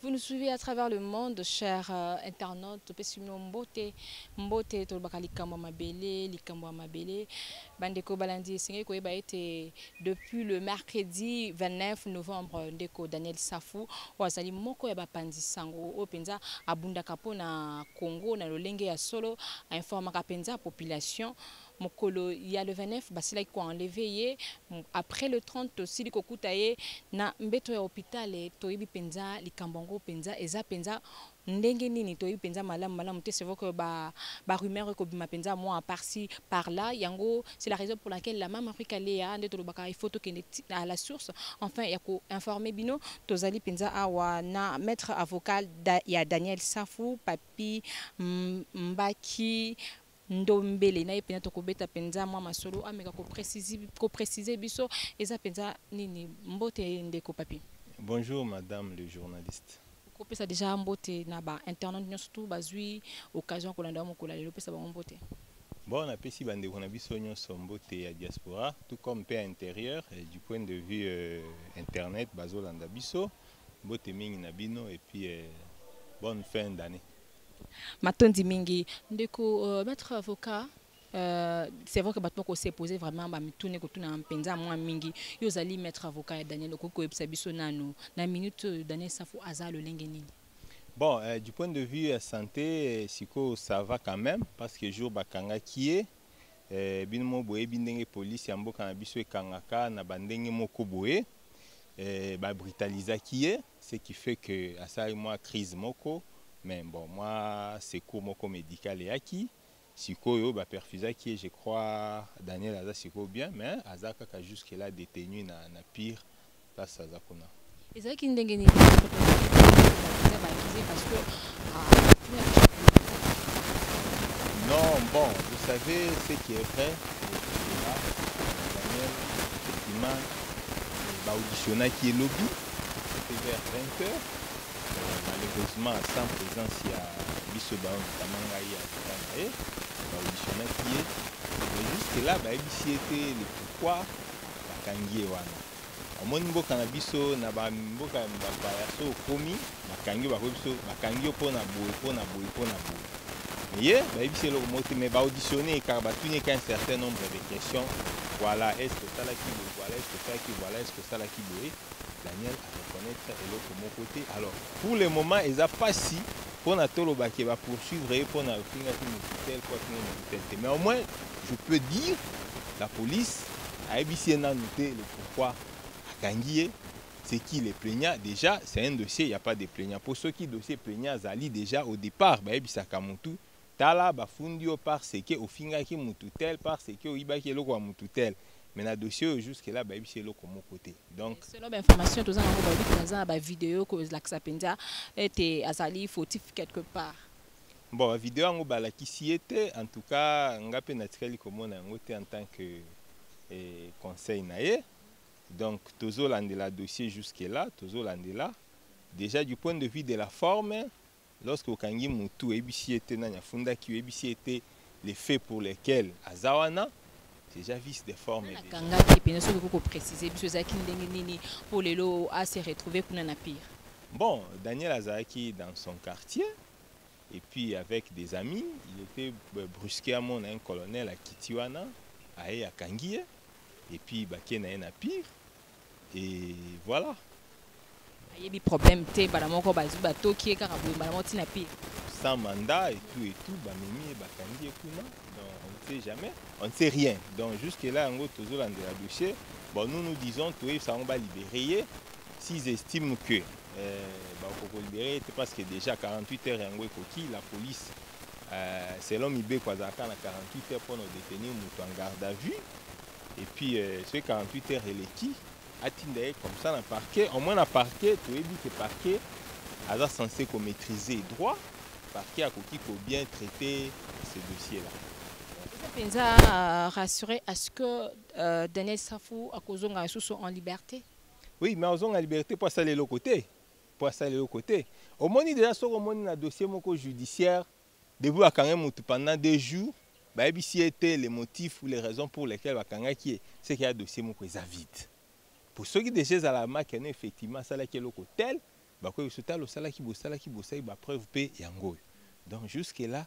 Vous nous suivez à travers le monde, chers euh, internautes. Topesi bino mbote mbote tolobaka likambo ya mabele likambo ya mabele bandeko balandi esengeli koyeba ete depuis le mercredi 29 novembre ndeko Daniel Safu oyo azali moko ya bapanzi sango oyo mpenza abundaka mpo na Congo na lolenge ya solo ainformaka mpenza population euh, mokolo ya le 29 basilaki ko enlever ye après le 30 tosili kokuta ye na mbeto ya hopital toyebi penza likambo yango penza eza penza ndenge nini toyebi penza malamu malamu te c'est vrai que ba ba rumeurs ekobima penza moi par ci par là yango c'est la raison pour laquelle la maman Rika Kalea nde tolobaka il faut tokende à la source enfin ya ko informer bino tozali penza awa na maître avocat ya Daniel Safu Papi Mbaki Ndombele na ye mpenza tokobeta mpenza mwa masolo ameka ko preciser biso eza mpenza nini. Mbote ndeko Papy. Bonjour madame le journaliste. Kopesa dejà mbote na ba internautes nionso tout bazui occasion ya kolanda yo mokolo ya lelo pesa bango mbote. Bon na pesi ba ndeko na biso nionso mbote ya diaspora tout comme pe ya interieur du point de vue internet bazolanda biso mbote mingi na bino et puis bonne fin d'annee. Matondi mingi ndeko euh, maître avocat Euh, c'est vrai que bato moko se pose vraiment bamituna ekotuna mpenza mwa mingi yo ozali maître avocat ya daniel okoki koyebisa biso nano na minute oyo daniel safu aza lolenge nini bon euh, du point de vue ya santé euh, sikoyo ça va quand même parce que jour bakangaki ye euh, bino mo boyebi ndenge polisi ya mboka na biso ekangaka na bandenge moko boye eh, ba brutalisaki ye ce qui fait que asali mwa crise moko mais bon mwa secours moko médical eyaki sikoyo baperfusaki ye je crois daniel aza sikoyo bien mais aza kaka jusque là détenu na, na pire place aza kuna ezalaki ndenge nini non bon vous savez ce qui est vrai daniel effectivement ba auditionnaki ye lobi mpe vers 20 heures malheureusement sans présence ya biso bayo notama ngai ya leta na ye ba auditionnaki ye mais jusque là bayebisi ye te le pourquoi bakangi ye wana omoni mboka na biso na bamboka ya bapaya so okomi bakangi yo bakoyebi biso bakangi yo mpo na boye mpo na boye mpo na boye ye bayebisi eloko moko te mais baauditionne ye kaka batuni ye ka un certain nombre de questions voilà est ce que osalaki boye voilà est ce que osalaki voilà est ce que osalaki boye daniel areconnaitre eloko moko te alors pour le moment eza mpasi mpo na toloba ke bapoursuivre ye mpo na ofingaki mokitel mpo afinga mokitel te mais au moins je peux dire la police ayebisi ye nanu te le pourquoi akangi ye c'est qui les plaignants déjà c'est un dossier il y a pas de plaignants pour ceux qui dossier plaignant azali déjà au départ ba yebisa kamutu tala ba fundi yo par ce que ofinga ki mutu tel par ce que oyiba ki eloko ya mutu tel mais na dossier oyo jusque là ba yebisa eloko moko te donc selon ba information toza na ko ba yebisa za ba vidéo ko la kisa penza ete azali fautif quelque part bon ba vidéo yango ba la kisi yete en tout cas ngape na tikali ko mona yango te en tant que eh, conseil na ye Donc tozo landela dossier jusque là, tozo landela déjà du point de vue de la forme lorsque okangi mutu oyebisi ye te nani afundaki oyebisi ye te les faits pour lesquels aza wana déjà vice de forme déjà. akangaki mpenza soki okoki koprécise biso ezalaki ndenge nini mpo lelo a se retrouve kuna na pire Bon, Daniel azalaki dans son quartier et puis avec des amis, il était euh, brusquement un colonel à Kitiwana, aye akangi ye. et puis bake na ye na pire et voilà ayebi problème te bala moko bazwi batoki ye kaka boye mbala moko ntina pire sans mandat et tout et tout bamemi ye bakangi ye kuna donc on ne sait jamais on ne sait rien donc jusque là yango tozolandela dossier bon nous nous disons toyebisa yango balibere ye s'ils estiment que euh, bakokolibere ye te parce que déjà 48 heures yango ekoki la police euh, selon mibeko azalaka na 48 heures mpo na odetenir moto en garde à vue et puis euh, soki 48 heures eleki atinda ye comme ça na parquet au moins na parquet toyebi ke parquet aza censé komaîtrise droit parquet akoki kobien traite ce dossier là eza mpenza euh, rassuré à ce que euh, daniel safu akozonga lisusu en liberté oui mais azonga liberté mpo asala eloko te po asala eloko te omoni deja soki omoni na dossier moko judiciaire depuis bakangai mutu pendant deux jours bayebisi ye te le motif ou les raisons pour lesquelles bakangaki ye seke ya dossier moko eza vide po soki deja ezala maki yano effectivement asalaki eloko tel bakoyebiso tala osalaki bosalaki bosaki ba preuve pe yango oyo donc jusque là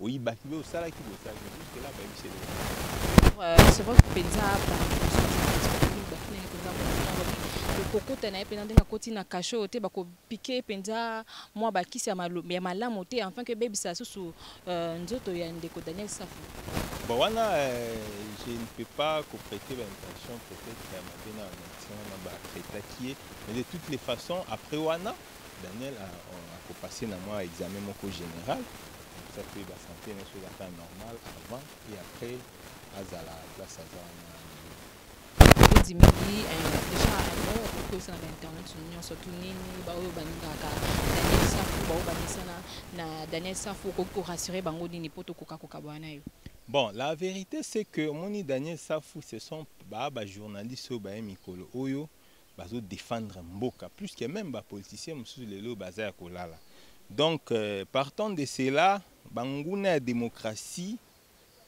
oyibaki mais osalaki boye osalaki boye jusque là bayebisi eloko Euh, c'est vrai que mpenza kokota na ye mpenza ndenge akoti na kashe oyo te bakopike mpenza mwa bakisi ya malo- ya malamu te enfin que ebebisa susu euh, nzoto ya ndeko daniel safu Bon, wana, euh, je ne peux pas prêter l'intention peut-être ya mabe na médecin wana ba traitaki ye mais de toutes les façons après wana Daniel a, a ko passer na mwa examen moko general ça fait ba santé na so ezaka normal avant et après azala place aza wana ezimeli eh, deja yango okoyisa na bainternet nyonso tu nini baoyo balingaka daniel safu baoyo bamesana na daniel safu okoki korassure bango nini mpo tokoka kokabwana na yo Bon, la vérité c'est que Moni Daniel Safou, ce sont bah, bah, journalistes au bah, Mikolo Oyo, bazo defendre mboka plus que même ba politiciens mosusu lelo baza ya kolala donc euh, partant de cela banguna ya démocratie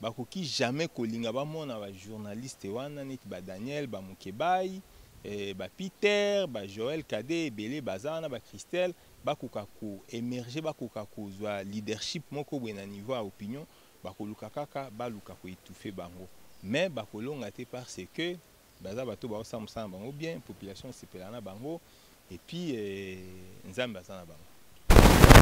bakoki jamais kolinga bamona ba journaliste wana neti ba Daniel ba Mukebayi eh, ba Peter ba Joël Kade ebele baza wana ba Christelle bakoka ko émerger bakoka kozwa leadership moko boye na niveau ya opinion bakoluka kaka baluka ko étouffer bango mais bakolonga te parce que Baza bato bao sala musala na bango bien, population esepela na bango et puis euh, Nzambe aza na bango.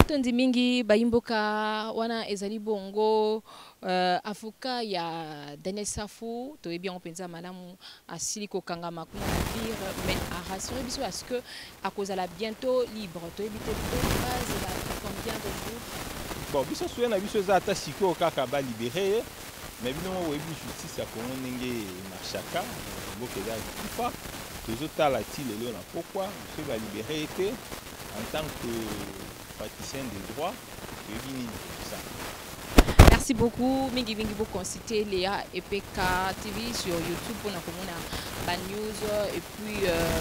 Tondi mingi bayimboka wana ezali bongo euh, avocat ya Daniel Safu toyebi yango mpenza malamu asili kokangama kuna na pire mais arasure biso parce que Akozala bientot libre toyebi te po bazela combien de jours. Bon biso souhait na biso eza ata sikoyo kaka ba libere ye mais bino moko boyebi justice ya Congo ndenge marchaka mboka eza kufa tozotala ti lelo na pokwa soki ba libere ye te en tant que praticien de droit oyebi nini kosala merci beaucoup mingi mingi bo consulter Léa EPK TV sur YouTube pour na komona ba news et puis euh,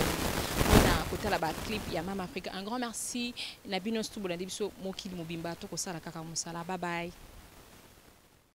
na kotala ba clip ya Mama Africa un grand merci na bino studio na biso mokili mobimba to kosala kaka musala bye bye